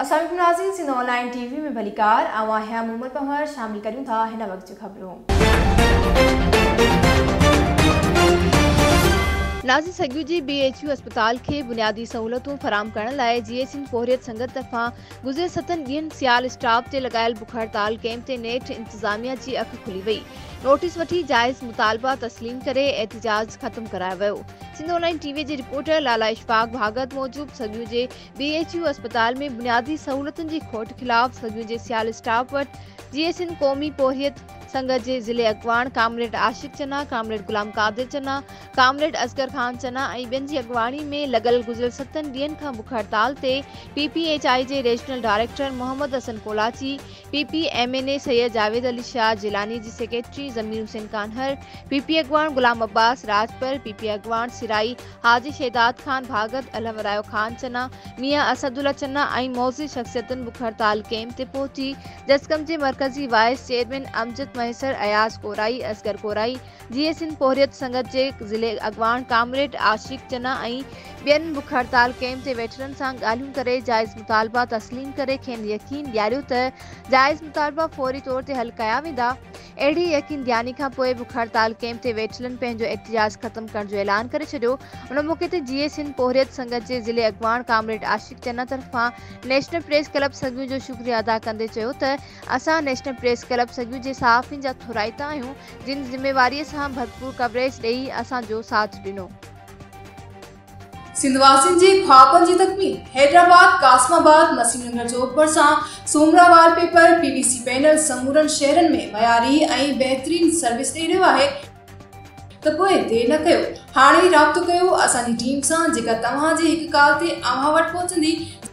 اسلام عليڪم ناظرين Sindh online T V ۾ ڀليڪار آئون آهيان مومل پنهور شامل ڪريون ٿا هن وقت جون خبرون. ناظرين سگهو جي بي ايڇ يو اسپتال کي بنيادي سهولتون فراهم ڪرڻ لاء جي ايڇ اين پورهيت سنگت طرفان گذريل ستن ڏينهن سيال اسٽاپ تي لڳايل بک هڙتال ڪئمپ تي نيٺ انتظاميا جي اک کلي وئي نوٽيس وٺي جائز مطالبا تسليم ڪري احتجاج ختم ڪرايو ويو Sindh online T V جي رپورٽر لالا اشفاق ڀاڳت موجب سڳيون جي بي ايڇ يو اسپتال ۾ بنيادي سهولتن جي کوٽ خلاف سڳيون جي سيال اسٽاف وٽ جي اي سنڌ قومي پورهيت سنگت جي ضلعي اڳواڻ comrade Ashiq Chana, comrade Ghulam Qadir Chana, comrade Asghar Khan Chana ۽ ٻين جي اڳواڻي ۾ لڳل گذريل ستن ڏينهن کان بک هڙتال تي پي پي ايڇ آء جي regional director Muhammad Hassan Kolachi, P P M N A Syed Javed Ali Shah Jilani جي secretary Zameer Hussain Kanhar, P P اڳواڻ غلام عباس راڄپر، پي پي اڳواڻ سرائي حاجي شهداد خان ڀاڳت، الهمرايو خان چنا، ميان اسد الله چنا ۽ معزز شخصيتن بک هڙتال ڪئمپ تي پهچي جسقم جي مرڪزي وائيس چيئرمين امجد مهيسر، اياز ڪورائي، اصغر ڪورائي، جيئي سنڌ پورهيت سنگت جي ضلعي اڳواڻ ڪامريڊ عاشق چنا ۽ ٻين بک هڙتال ڪئمپ جي ويٽرن سان ڳالهيون ڪري جائز مطالبا تسليم ڪري کين يقين ڏياريو ته جائز مطالبا فوري طور تي حل ڪيا ويندا اهڙي يقين ڏياني کان پوء بک هڙتال ڪئمپ جي ويٽرن پنهنجو احتجاج ختم ڪرڻ جو اعلان ڪري ڇڏيو ان موقعي تي جيئي سنڌ پورهيت سنگت جي ضلعي اڳواڻ ڪامريڊ عاشق چنا طرفان نيشنل پريس ڪلب سڳيون جو شڪريو ادا ڪندي چيو ته اسان نيشنل پريس ڪلب سڳيون جي صحافين جا ٿورائتا آهيون جن ذميواريء سان ڀرپور ڪوريج ڏيئي اسان جو ساٿ ڏنو. سنڌ واسين جي خوابن جي تڪميل حيدرآباد، قاسم آباد، نسيم نگر چوڪ ڀرسان Soomra wallpaper, P V C panel سمورن شهرن ۾ معياري ۽ بهترين سروس ڏئي رهيو آهي، ته پوء دير نه ڪيو هاڻي ئي رابطو ڪيو اسان جي ٽيم سان جيڪا توهان جي هڪ ڪال تي اوهان وٽ پهچندي،